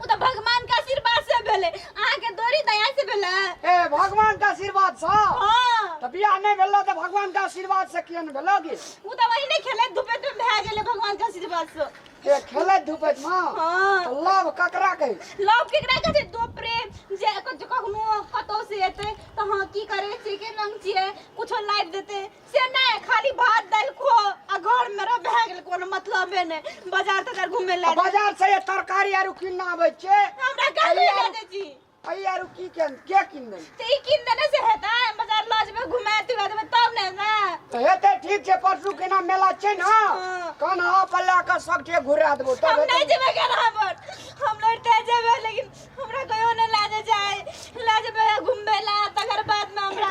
ओ तऽ भगवान के आशीर्वाद से भेले अहाँ के दोरी दया से भेले ए भगवान के आशीर्वाद से हां तऽ बियाह नहि भेलो तऽ भगवान के आशीर्वाद से किया नहि भेलो गे ओ तऽ वही ने खेले धूपे में भए गेले भगवान के आशीर्वाद से ए खेले धूपे में हां लव ककरा कहे लव केकरा कहे दो प्रेम जे कखनो कतो से एते तऽ हां की करे से के रंग छिए कुछो लाइट देते से नहि खाली भात दालि खो आ घर में रह भए गेल कोनो मतलबे नहि बाजार तजार घूमे ले बाजार से तरकारी आरु किनना आबै छै हमरा गाड़ी ले दे जी अई आरु की किन के किन दे ते ई किन देने से हेता बाजार लऽ जेबै घुमा तुमा देबै तब ने ना तो हेते ठीक छै परसू केना मेला छै ना हाँ। कौन हा पर ला के सब ठे घुरा देबो तब हम नहीं जेबै केना पर हम लड़ते जेबै लेकिन हमरा कहियो नहि लाजे जाए लाजे घूमे ला तकर बाद में हमरा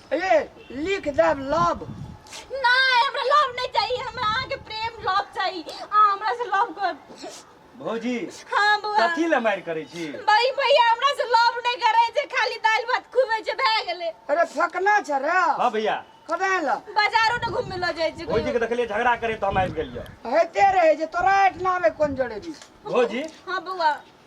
ए लिख देब लव नहीं हमरा लव नहीं चाहिए हमरा अहाँ के प्रेम लव चाहिए अहाँ हमरा से लव कर भौजी हाँ बुआ कथी ले मारि करै छी भाई भैया हमरा से लव नहीं करे जे खाली दाल भात खुबे जे भए गेले अरे फकना छ रे हँ भैया कदे ल बाजारो न घूमे ल जाय छै भौजी के देखलियै झगड़ा करे तो हम आबि गेलियै हेते रहे जे तोरा एठना में कोन जड़े भी भौजी हाँ बुआ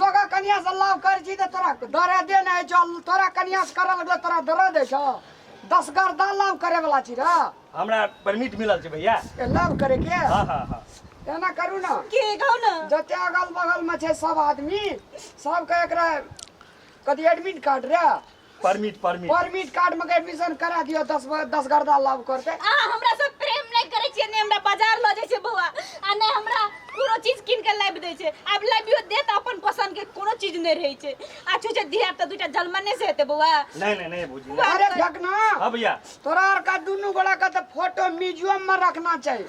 लोग कनिया से लाभ कर छी तो तोरा दर्द दे नहीं छो तोरा कनिया से करल लगलो तोरा दर्द दे छो दस गर्दा लाभ करे वाला छी रे हमरा परमिट मिलल छै भैया ए, लाभ करे के हाँ हाँ हाँ एना करू ना के कहू ने जते अगल बगल में छै सब आदमी सबके एकरा कथी एडमिट कार्ड रे परमिट परमिट परमिट कार्ड में एडमिशन करा दियो दस दस गर्दा लाभ करते अहाँ हमरा से प्रेम नहीं करे छियै ने हमरा बाजार ल जाय छै बौआ आ ने हमरा कोनो चीज किन के लाबि दै छै आब लाबियो दे त अपन पसंद के कोनो चीज नहीं रहे छै आ छु छै दिया त दुटा जलमने से हेते बौआ नहीं नहीं नहीं बुझी अरे ढकना हां भैया तोरा आर का दुनु गोला का त फोटो म्यूजियम में रखना चाहिए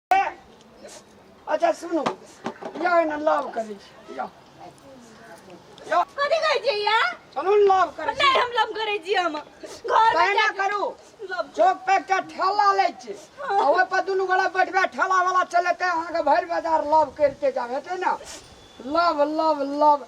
अच्छा सुनू या एना लाभ करै छी या या कथी कहै छियै या चलू ने लाभ करै छी नहि हम लम करै छी हम घर में तहिना करू लम चौक पे एकटा ठेला लै छी आ ओहि पर दुनू गोरा बैठबे ठेला वाला चलेतै अहाँके भरि बाजार लाभ करिते जाब हेतै ने लाभ लाभ लाभ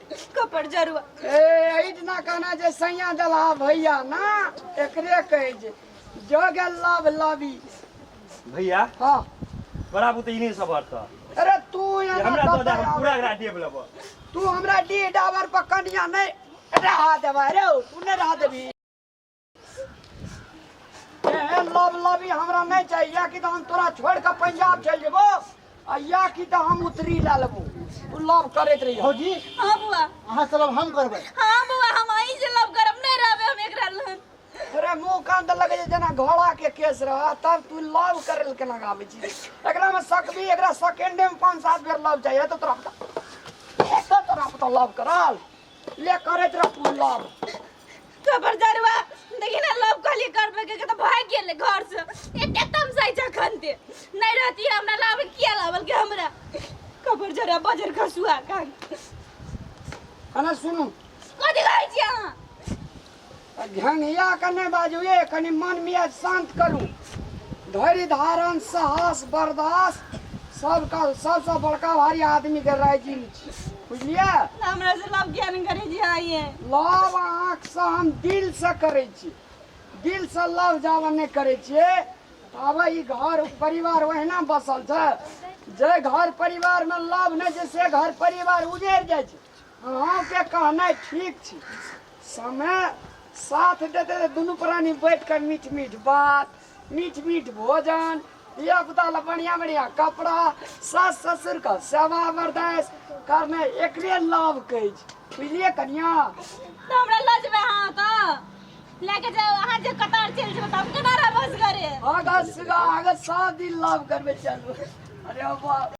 कपर जरुआ ए अहिना कहना जे सैया देलहा भैया ना एकरे कहै जे जो गेल लव लवी भैया हाँ बड़ा बुते इन्हीं सब अर्थ है। अरे तू ये एना हमरा तो दे हम कपर पूरा एकरा डेब लेबो तू हमरा डी डावर पर कनिया नहीं रहा देवा रे तू नहीं रहा देवी एहन लब लबी हमरा नहीं चाहिए या कि तो हम तोरा छोड़ के पंजाब चल जेबो आ या कि तो हम उतरी ला लेबो तू लब करैत रहियो भौजी हाँ बुआ अहाँ से लब हम करबै हाँ बुआ हम अहीं से लव करब नहीं रहबे हम एकरा लग तोरे मुंह कान त लगे छै जेना घोड़ा के केस रह तब तू लब करे ले केना आबै छी एकरा में सकबी एकरा सेकेंडे में पांच सात बेर लब चाहिए तो तोरा पता तो तोरा पता लब करल ले करत रह तू लव तो पर दरवा देखी ना लव कहली करबे के के तो भाग गेल घर से एते तम साइ जखन दे नहीं रहती हमरा लावे किया लावल के हमरा कबर जरा बजर खसुआ कान खाना सुनू कथी कहै छी अहाँ घ्याङ्घिया कऽ नहि बाजू ए कनि मन मियाज शान्त करू धैर्य धारण साहस बर्दाश्त सबका सबसँ बड़का भारी आदमीके राइजिंग छी बुझलियै हमरा से लव किया नहीं करे जी आइए लव अहाँसँ हम दिलसँ करै छी दिलसँ लव जाबऽ नहि करै छियै ताबे ई घर परिवार ओहिना बसल छै जे घर परिवारमे लव नहि छै से घर परिवार उजैर जाइ छै अहाँके कहनाइ ठीक छी समय साथ देते तऽ दुनू प्राणी बैठ कऽ मीठ मीठ बात मीठ मीठ भोजन धिया पुता लए बढ़िया बढ़िया कपड़ा सास ससुर के सेवा बरदास करने एकरे लाभ कहै छी बुझलियै कनिया तऽ हमरा लऽ जेबै अहाँ तऽ लए कऽ जायब अहाँ जे कतार चलि जेबै तऽ हम केना रहबै असगरे आगा सुगा आगा सब दिन लाभ करबे चलू अरे बाप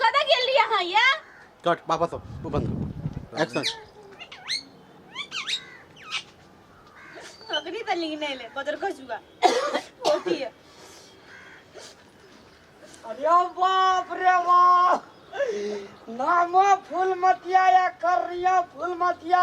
कतऽ गेल रही अहाँ ये कट वापस आओ वो बंद करो एक्शन अखनी तऽ लीन एलै बदर खसुआ होती है अरे बाप रे बाप नामो फूल मतिया या करिया फूल मतिया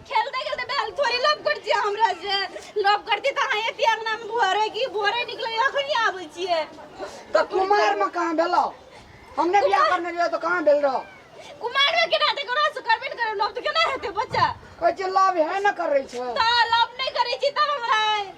खेलते खेलते बैल थोड़ी लप कर दिया हमरा से लप कर दी त हां एती अंगना में भोरे की भोरे निकले अखनी आबै छिए तो कुमार में कहां भेलो हमने बियाह करने लिए तो कहां भेल रहो कुमार में केना ते करो से करबे करे लप त केना हेते बच्चा कोई जे लव है ना करे छै त लप नहीं करे छी तब हमरा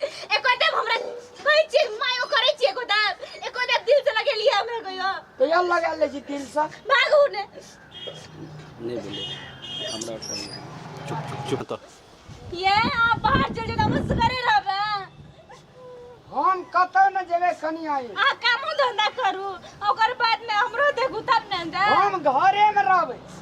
एको देव हमरा कहै छियै मायो करै छियै एको देव एको देव दिल से लगेलियै हमरा कहियो तो यार लगा ले जी दिल से भागू ने नहीं बोले हमरा उठा ले। चुप चुप चुप तो ये आप बाहर चल जाओ हम सुगरे रहबे हम कतौ न जेबे कनी आई आ कामो धंधा करू ओकर बाद में हमरो देखू तब ने दे हम घरे में रहबे